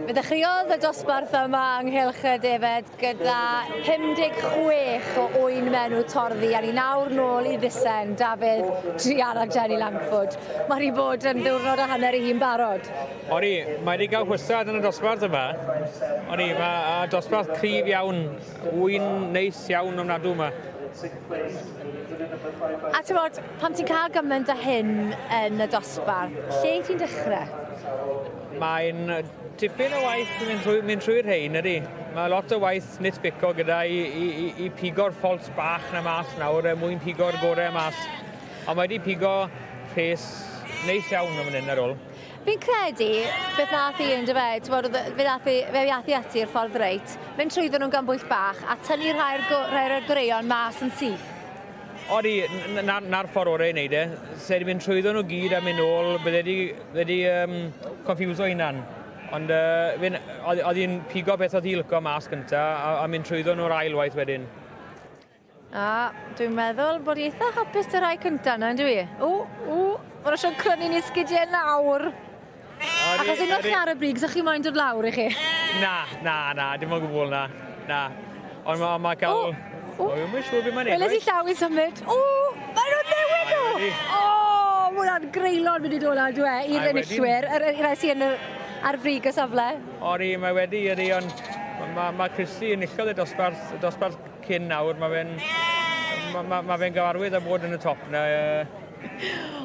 Fe ddechreuodd y dosbarth yma ynghylch y defed gyda 56 o ŵyn menw torddi a ni nawr nôl i ddusen Dafydd, Drian a Jenny Langford. Mae rhi bod yn ddiwrnod a hanner i hi'n barod. O'n i, mae wedi cael hwysad yn y dosbarth yma. O'n i, mae dosbarth cryf iawn, ŵyn neis iawn ofnadw yma. A ti'n bod, pan ti'n cael gymaint o hyn yn y dosbarth, lle ti'n dechrau? Mae'n tipyn o waith mynd trwy, mynd trwy rhain ydy. Mae lot o waith nitpico gyda i, i, i, i pigo'r ffolt bach na mas nawr er mwyn pigo'r gorau mas. Ond mae wedi pigo rhes neis iawn am hyn ar ôl. Fi'n credu, beth nath i yn dyfe, t'mod o'dd e fe ath e fe ath i ati i'r ffordd reit, mynd trwyddo nhw'n gan bwyll bach a tynnu rhai'r go- rhai o'r goreuon mas yn syth. Odi, n- n- 'na'r ffordd orau i wneud e. Se di mynd trwyddo nhw gyd a mynd nôl, bydde di, bydde di um, confuso hunan. Ond uh, fi'n, oedd hi'n pigo beth oedd hi'n licio mas gynta a, a mynd trwyddo nhw'r ail waith wedyn. A, dwi'n meddwl bod hi eitha hapus dy rhai cynta yna, yndw i? O, o, mae'n eisiau crynu ni sgidiau nawr. Achos unwaith chi ar y brig, sa chi moyn dod lawr i chi? Na, na, na, dim ond gwbl na. Na. Ond mae ma cael... O! O! O, mae'n siŵr beth mae'n ei Wele ti llaw i symud. O! Mae nhw'n newid o! O! Mae hwnna'n greulon mynd i dod lan, dwi e, i'r enillwyr, yr rai sy'n yn yr ar frig y safle. Ori, mae wedi, ydi, ond mae ma, ma Christy yn illol y dosbarth, y dosbarth Cyn nawr, mae fe'n ma, ma, ma fe gyfarwydd â bod yn y top na.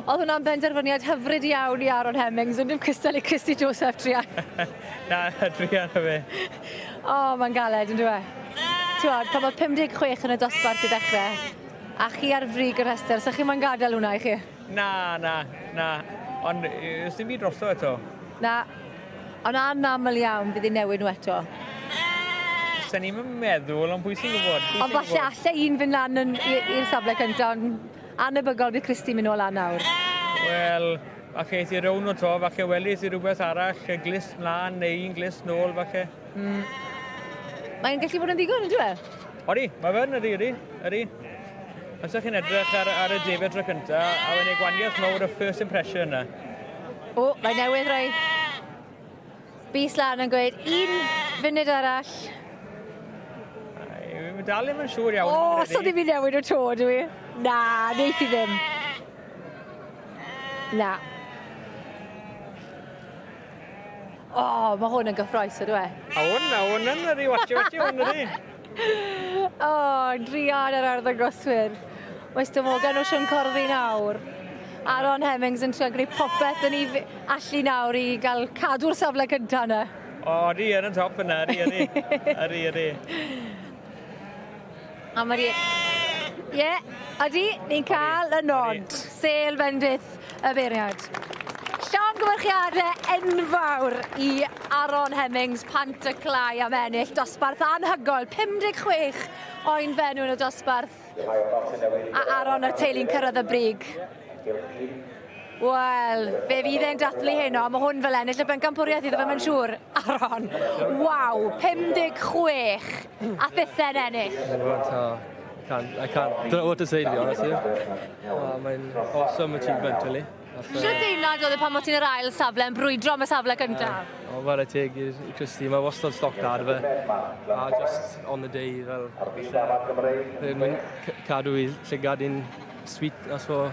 Oedd hwnna'n benderfyniad hyfryd iawn i Aaron Hemmings, yn dim cystal i Christy Joseph Trian. na, Trian o fe. O, oh, mae'n galed, yn dweud. Ti'n pan oedd 56 yn y dosbarth i ddechrau, a chi ar frig y rhestr, sa'ch chi'n mae'n gadael hwnna i chi? Na, na, na. Ond, ys dim byd drosto eto. Na, Ond anaml iawn bydd hi'n newid nhw eto. Sa ni'm yn meddwl, ond pwy sy'n gwybod? Ond falle allai un fynd lan yn, i'r safle cyntaf, ond anebygol bydd Christy mynd nôl lan nawr. Wel, falle eith i rown o to, falle welis i rhywbeth arall, y glist mlaen neu un glist nôl falle. Mm. Mae'n gallu bod yn ddigon, yn dweud? Odi, mae fe'n ydi, ydi, ydi. Os ydych chi'n edrych ar, ar y David tro cynta, a wedyn ei gwaniaeth mawr y first impression yna. O, mae newydd roi bus lan yn gweud un funud arall. Mae dal ddim yn siŵr iawn. O, so ddim i newid o to, dwi. i? Na, neith i ddim. Na. O, oh, mae hwn yn gyffroes ydw e. A hwn, a hwn yn yr i watio watio hwn ydi. O, oh, drian yr arddangoswyr. Mae Sto Morgan o Sian Corddi nawr. Aaron Hemmings yn trio gwneud popeth yn ei allu nawr i gael cadw'r safle cyntaf yna. O, di yn y top yna, ydi, ydi. Ydi, ydi. A mae'r ie... Ie, odi, ni'n cael y nod. Sêl bendith y beirniaid. Llongyfarchiadau enfawr i Aaron Hemmings, Pant y Clai am ennill dosbarth anhygoel, 56 oen fenw yn y dosbarth. A Aaron a'r teulu'n cyrraedd y brig. Wel, fe fydd e'n dathlu heno. Mae hwn fel ennill y bencampwriaeth iddo fe, mae'n siŵr. Aron, waw, 56 a thithen ennill. Can't, I can't, don't know what to say to be honest with you. Oh, mae'n awesome achievement, really. Sut deimlad oedd e pan bod ti'n yr ail safle yn brwydro am y safle gyntaf? Uh, o, fel y teg i Christy, mae wastad stoc da ar fe. A just on the day, fel... Ar y byd yma Cymreig. Mae'n cadw i llygad i'n sweet, that's for